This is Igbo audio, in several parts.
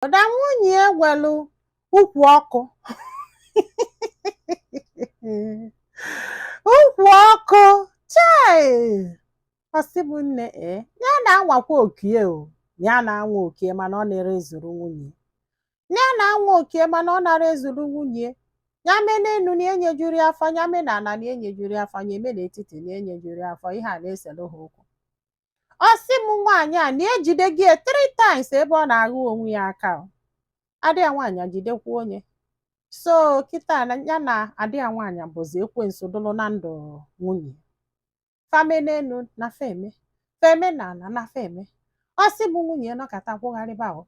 Ọda nwunye ya nwelu ukwu ọkụ ukwu ọkụ chai ọ sị m nne e ya na-anwakwa oko ya o ya na-anwa oko ya mana ọ narọ ezuru nwunye ya na-anwa oko ya mana ọ narọ ezuru nwunye ya mee n'enu na enyejuru ya afọ ya mee na ala na enyejuru ya afọ ya mee n'etiti na enyejuru ya afọ ihe a na-eselu ha okwu ọ sị m nwaanyị a na ejidego ya three times ebe ọ na-aghụ onwe ya aka o. ada ya nwaanyị ejidekwuo ya so kịta na ya na ada ya nwaanyị bụzi ekwensu dụlụ na ndụ nwunye ya fa mee n'elu na fa eme fa mee na ala na fa eme ọ sị m nwunye ya nọkata kwụgharịba o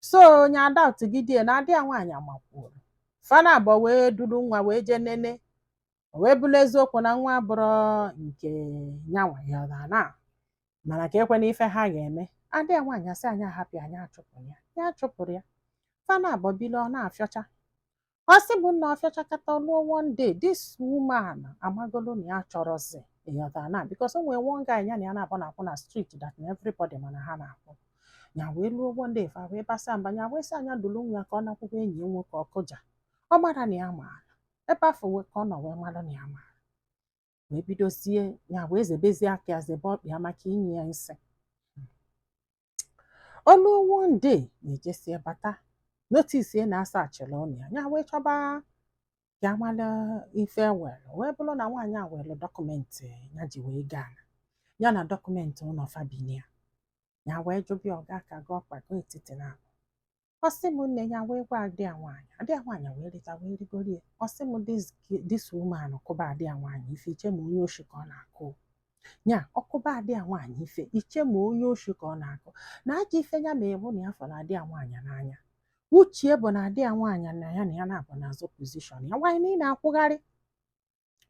so ya adoubtigide ya na ada ya nwaanyị amakwuoro fa naabọ wee duru nwa wee jee nene o wee bụrụ eziokwu na nwa abụrọ nke nyanwa ya na na mana ka ekwe na ife ha ga-eme ada ya nwaanyị asị ya ya hapụ ya ya achụpụla ya ya achụpụrọ ya fa naabọ bili ọ na-afịọcha ọ sị m nna ọ fịachakata ọ luo one day this woman amagolo na ya chọrọzi ịghọta na because o nwere one guy ya na ya naabọ na-akwụ na street that na everybody ma na ha na-akwụ ya wee luo one day fa wee basa mba ya wee sị ya ya dulu nwa ya ka ọ nakwụkwọ enyi ya nwoke ọ kụja ọ mara na ya maara ebe afụ wee ka ọ nọ wee mara na ya maara wee bidozie ya wee zebezie aka ya zebe ọkpa ya maka inye ya nsị ọ luo one day ya ejesịa bata notice na a searchịla ụlọ ya ya wee chọba ka ya mala ife were wee bụrụ na nwaanyị a were document ya ji wee goo ala ya na document ụlọ fa bi na ya ya wee jụba ya ọga ka gị ọkpa gị etiti na abụ ọ sị m nne ya wee gwa ada ya nwaanyị ada ya nwaanyị wee rịta wee rigoro ya ọ sị m this woman kụba ada ya nwaanyị ife i chee ma onye oshi ka ọ na-akụ ya ọ kụba ada ya nwaanyị ife i chee ma onye oshi ka ọ na-akụ na aja ife ya ma bụ na ya fụrụ ada ya nwaanyị n'anya uche ya bụ na ada ya nwaanyị na ya na ya naabọ na-azọ position ya nwaanyị na ị na-akwụgharị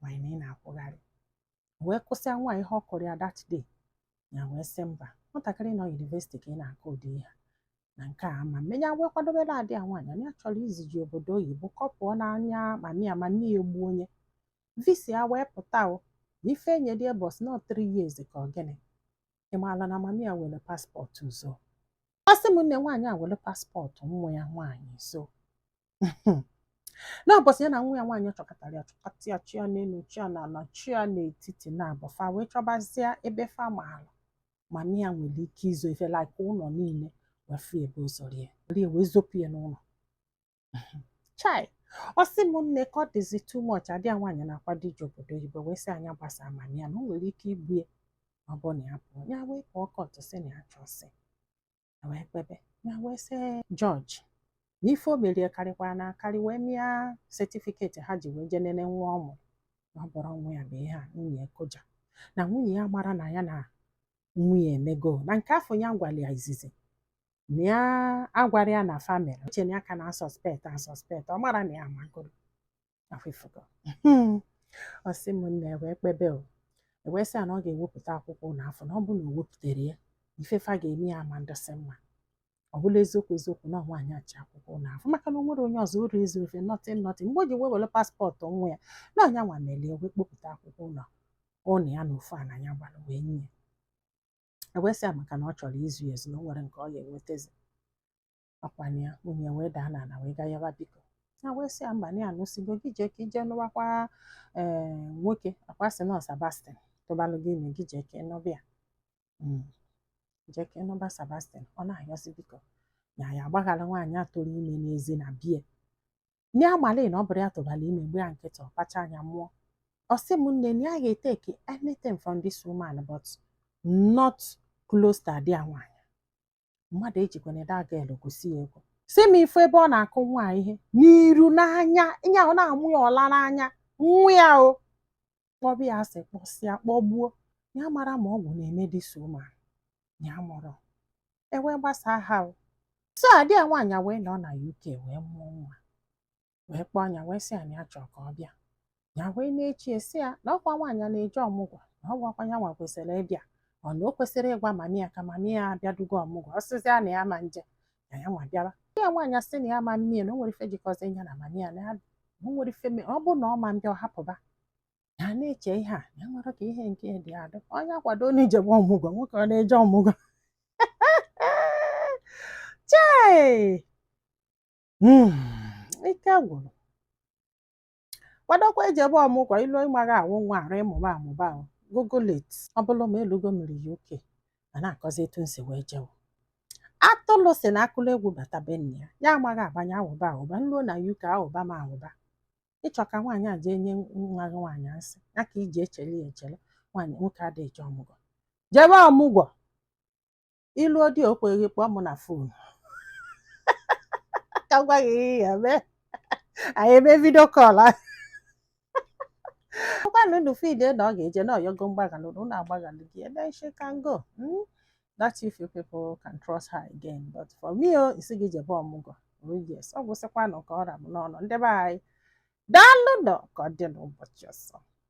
nwaanyị na ị na-akwụgharị wee kụsịa nwa ya ihe ọ kụrụ ya that day ya wee sị mba nwatakịrị nọ university ka ị na-akụ ụdị ihe na nke a ama mme ya wee kwadobere ada ya nwaanyị na ya chọrọ izije ya obodo oyibo ka ọ pụọ n'anya mami ya mami ya egbuo ya visa ya wee pụta o na ife enye dị bọs na three years ka ọ gịnị ị maala na mami ya were passport zoo ọ sị m nne nwaanyị a were passport nwa ya nwaanyị zoo n'ụbọsị ya na nwa ya nwaanyị chọkatara ya chọkata ya chọọ ya n'elu chọọ ya n'ala chọọ ya n'etiti naabọ fa wee chọbazie ebe fa maalụ mami ya nwere ike izo ife like ụlọ niile wee fụ ebe o zoro ya were ya wee zopụ ya n'ụlọ chai ọ sị m nne ka ọ dịzi too much ada ya nwaanyị na-akwado ije obodo oyibo wee sị ya ya gbasaa mami ya na o nwere ike igbu ya ma ọ bụ na ya pụọ ya wee pụọ court sị na ya chọsị e wee kpebe ya wee sị jọji na ife o merie karịkwara na akarị wee mịa setifiketi ha ji wee jee nenee nwa ọ mụrụ na ọ bụrọ nwa ya bụ ihe a nwunye ya koja na nwunye ya mara na ya na nwunye emego na nke afọ ya gwara ya izizi na ya agwara ya na famịlị Uchenna ka na-asọspekt asọspekt ọ mara na ya amagoro afọ ịfụgo hmm. ọ sị m nne wee kpebe o ewee sị ya na ọ ga-ewepụta akwụkwọ ụnọ afụ na ọ bụrụ na o wepụtarọ ya ife fa ga-eme ya ama ndịsị mma ọ bụla eziokwu eziokwu na nwaanyị achị akwụkwọ ụnọ afụ maka na o nwere onye ọzọ uru izu ofe nọtin nọtin mgbe o ji wee were paspọtụ nwa ya na anya nwa melie wee kpopụta akwụkwọ ụnọ ụnọ ya na ofu ana ya gbara wee nye ya ewee sị ya maka na ọ chọrọ izu ya ezu na o nwerọ nke ọ ga-enwetazi ọkwanụ ya nwunye wee daa n'ala wee gaa yọba biko ha wee sị ya mba na ya anụsịgo gị jee ka i jee nụwakwa ee eh, nwoke akwa sị na Sebastian tụbalụ gị ime gị jee ka ị nụba ya hmm. jee ka ị nụba Sebastian ọ na-ayọsị biko na ya agbaghara nwaanyị a tụrụ ime n'ezi na bie nye amalụ na ọ bụrọ ya tụbara ime gba ya nkịtị ọ kpacha anya mụọ ọ sị m nne na ya ga-eteki anything from this woman but not close to ada ya nwaanyị mmadụ ejikwana ede aga elu gosi ya egwu si m ife ebe ọ na-akụ nwa ihe n'iru n'anya nya ọ na-amụ ya ọla n'anya nwa ya o kpọbụ ya asị kpọsịa kpọgbuo ya mara ma ọgwụ na-eme this woman ya mụrụ ewee gbasaa ha o so ada ya nwaanyị wee nọ na UK wee mụọ nwa wee kpọọ nya wee sị ya na ya chọ ka ọ bịa ya wee na-eche sị ya na ọkwa nwaanyị a na-eje ọmụgwọ na ọ gwakwa ya nwa kwesịrị ịbịa o na o kwesịrị ịgwa mami ya ka mami ya abịadugo ọmụgwọ ọ sịzịa na ya ma nje na ya nwa bịara ya nwaanyị asị na ya ma mmie na o nwerọ ife jikọzi ya na mami ya na ya o nwere ife me- ọ bụ na ọ ma mbịa ọ hapụba ya na-eche ihe a ya nwere ka ihe nke dị adị onye akwado na ijem ọmụgwọ nwoke ọ na-eje ọmụgwọ chee Hmm, ike gwụrụ kwadokwa ejebe ọmụgwọ i luo ị maghị awụ nwa arụ ị mụba amụba google it ọ bụrụ ma elugo mmiri uk ma na-akọzi etu m si wee jewo atụlụ si na akụlụ egwu bata be nne ya ya amaghị agbanye awụba awụba m ruo na uk awụba ma awụba ị chọ ka nwaanyị a jee nye nwa gị nwaanyị asị ya ka iji echele ya echele nwaanyị nwoke adịghị eje ọmụgwọ jebe ọmụgwọ i luo ọ dị okay ị kpọọ m na fon ka m gwa gị ihe ị ya-eme anyị eme vidio kọl ọkwanụ unu feel na ọ ga-eje na ọyọgo mgbaghalụ na unu agbaghalụ gị then she can go hmm? that if you people can trust her again but for me o oh, isi gị jebe ọmụgwọ oh yes ọ gwụsịkwanụ ka ọ ra m n'ọnụ ndị be anyị daalụnụ ka ọ dị n'ụbọchị ọzọ